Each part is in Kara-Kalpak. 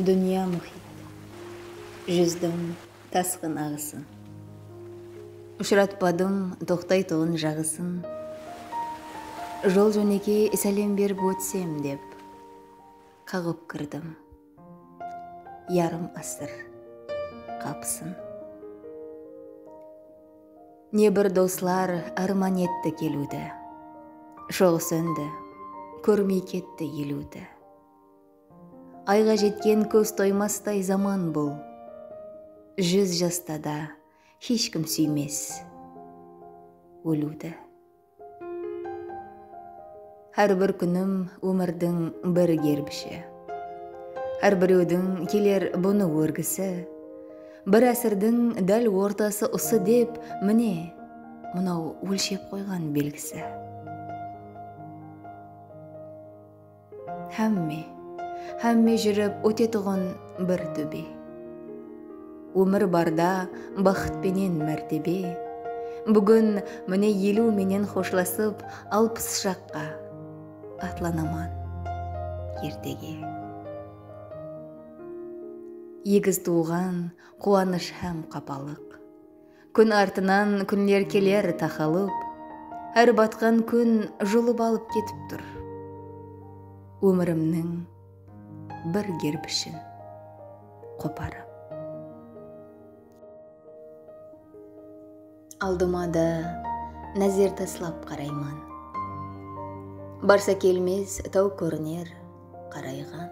Dúnya múhit, júzdim tasqın aǵısın. Ushıratpadım toqtaytuǵın jaǵısın. Jol-jónekey sálem berip ótsem dep, qaǵıp kirdim. yarım asır qapısın. Ne bir doslar árman etti keliwdi, Joǵı sóndi, kórmey ketti eliwdi. Ayǵa jetken kóz toymastay zaman bul, Júz jasta da hesh kim súymes óliwdi. Hár bir kúnim ómirdiń bir gerbishi Hár birewdiń keler bunı órgisi Bir ásirdiń dál ortası usı dep Mine, mınaw ólshep qoyǵan belgisi. Hámme, hámme júrip ótetuǵın bir tóbe. Ómir barda baxıt penen mártebe, Búgin mine eliw menen xoshlasıp alpıs jaqqa atlanaman ertege. Egiz tuwǵan quwanısh hám qapalıq. Kún artınan kúnler keler taqalıp, Hár batqan kún julıp alıp ketip tur Ómirimniń bir gerbishin qoparıp. Aldıma da názer taslap qarayman, Barsa kelmez taw kóriner qarayǵan.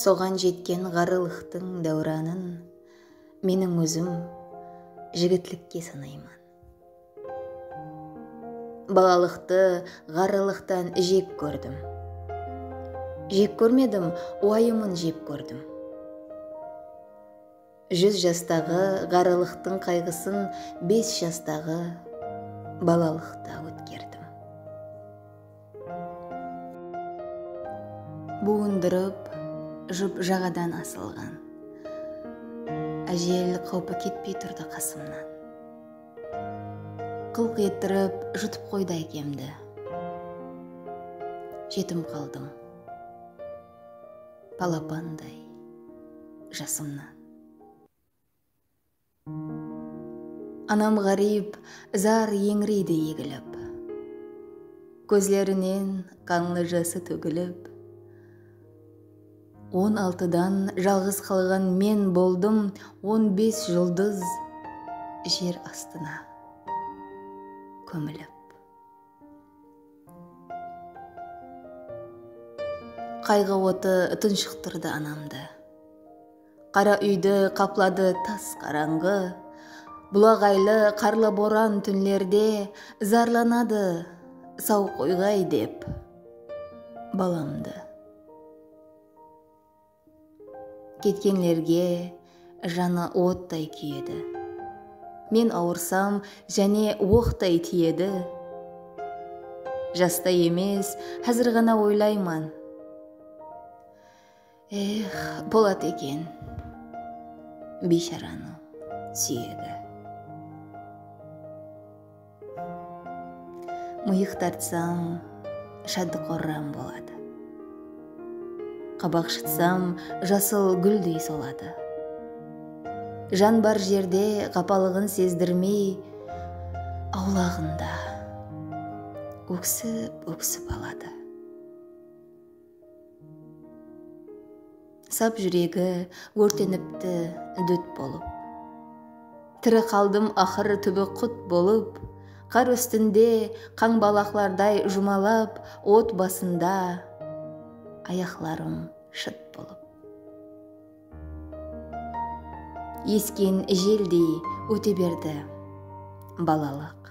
Soǵan jetken ǵarrılıqtıń dáwranın Meniń ózim jigitlikke sanayman. Balalıqtı ǵarrılıqtan jek kórdim. Jek kórmedim, uayımın jep kórdim. Júz jastaǵı ǵarrılıqtıń qayǵısın bes jastaǵı balalıqta ótkerdim. Buwındırıp, jıp jaǵadan asılǵan. Ájel qáwpi ketpey turdı qasımnan. Qılq ettirip, jutıp qoydı ákemdi. Jetim qaldım, balapanday jasımnan. Anam ǵáriyp zar eńireydi egilip. Kózlerinen qanlı jası tógilip. On altıdan jalǵız qalǵan men boldım on bes juldız jer astına kómilip. Qayǵı otı tunshıqtırdı anamdı. Qara úydi qapladı tas qarańǵı. Bulaǵaylı qarlı boran túnlerde Zarlanadı saw qoyǵay dep balamdı. Ketkenlerge janı ottay kúyedi. Men awırsam jáne oqtay tiyedi. Jasta emes, házir ǵana oylayman. Ex boladı eken biysharanıń súyegi. Mıyıq tartsań shaddı qorram boladı. Qabaq shıtsam jasıl gúldey soladı. Jan bar jerde qapalıǵın sezdirmey awlaǵında óksip óksip aladı. Sap júregi órtenipti dút bolıp. Tiri qaldım aqır túbi qut bolıp, Qar ústinde qańbalaqlarday jumalap, Ot basında ayaqlarım shıt bolıp. Esken jeldey óte berdi balalıq.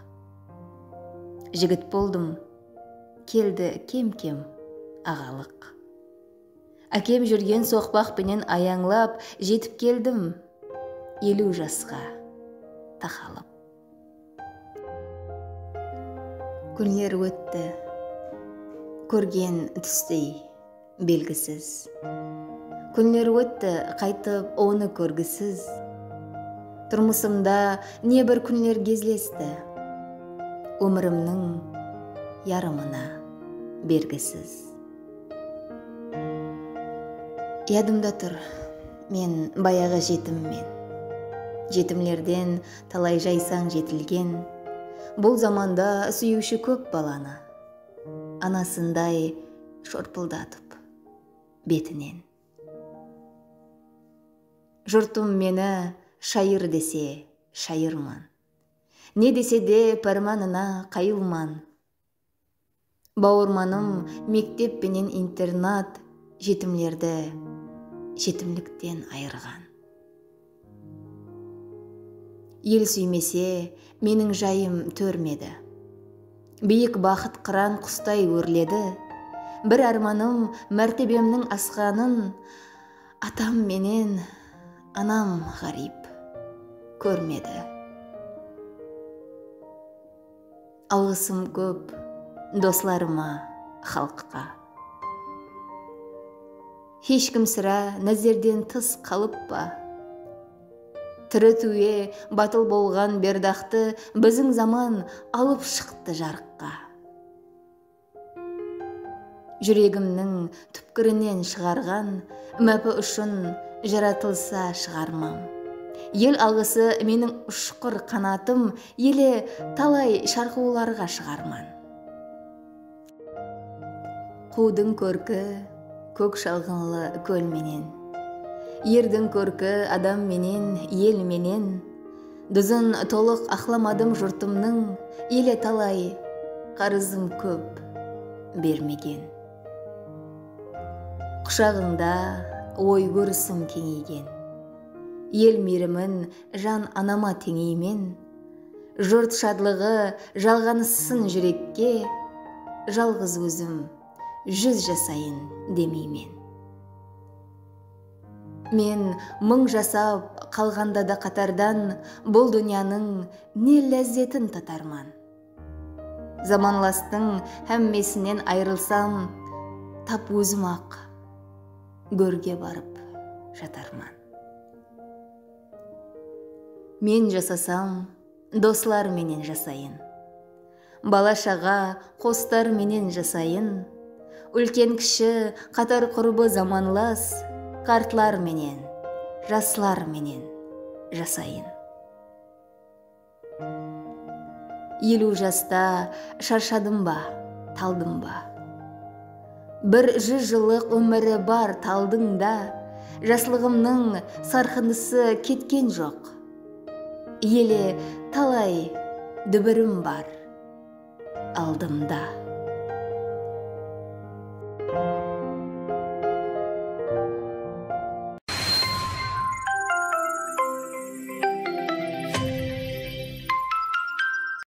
Jigit boldım. Keldi kem-kem aǵalıq. Ákem júrgen soqpaq penen ayańlap jetip keldim eliw jasqa taqalıp. Kúnler ótti kórgen tústey. Belgisiz. Kúnler ótti qaytıp onı kórgisiz. Turmısımda ne bir kúnler gezlesti. Ómirimniń yarımına bergisiz. Yadımda tur, men bayaǵı jetimmen. Jetimlerden talay jaysań jetilgen. Bul zamanda súyiwshi kóp balanı. Anasınday shorpıldatıp betinen. Jurtım meni shayır dese, shayırman. Ne dese de pármanına qayılman. Bawırmanım mektep penen internat jetimlerdi jetimlikten ayırǵan. El súymese, meniń jayım tórmedi. Biyik baxıt qıran qustay órledi. Bir ármanım mártebemniń asqanın atam menen anam ǵáriyp kórmedi. Alǵısım kóp doslarıma, xalıqqa. Hesh kim sirá názerden tıs qalıp pa? Tiri túwe batıl bolǵan Berdaqtı biziń zaman alıp shıqtı jarıqqa. Júregimniń túpkirinen shıǵarǵan Mápi ushın jaratılsa shıǵarmań. El alǵısı meniń ushqır qanatım ele talay sharqıwlarǵa shıǵarman. Quwdıń kórki kók shalǵınlı kól menen. Erdiń kórki adam menen, el menen. Dúzin tolıq aqlamadım jurtımnıń ele talay qarızım kóp bermegen Qushaǵıńda oy kórisim keńeygen El miyrimin jan anama teńeymen Jurt shadlıǵı jalǵanıssın júrekke Jalǵız ózim júz jasayın demeymen. Men mıń jasap, qalǵanda da qatardan Bul dúnyanıń ne lázzetin tatarman? Zamanlastıń hámmesinen ayrılsam, Tap ózim-aq górge barıp jatarman. Men jasasam, doslar menen jasayın. Bala-shaǵa, qostar menen jasayın. Úlken-kishi, qatar qurıbı zamanlas, Qartlar menen, jaslar menen jasayın. Eliw jasta sharshadım ba, taldım ba? Bir júz jıllıq ómiri bar taldıń da, Jaslıǵımnıń sarqınısı ketken joq. Ele talay dúbirim bar aldımda.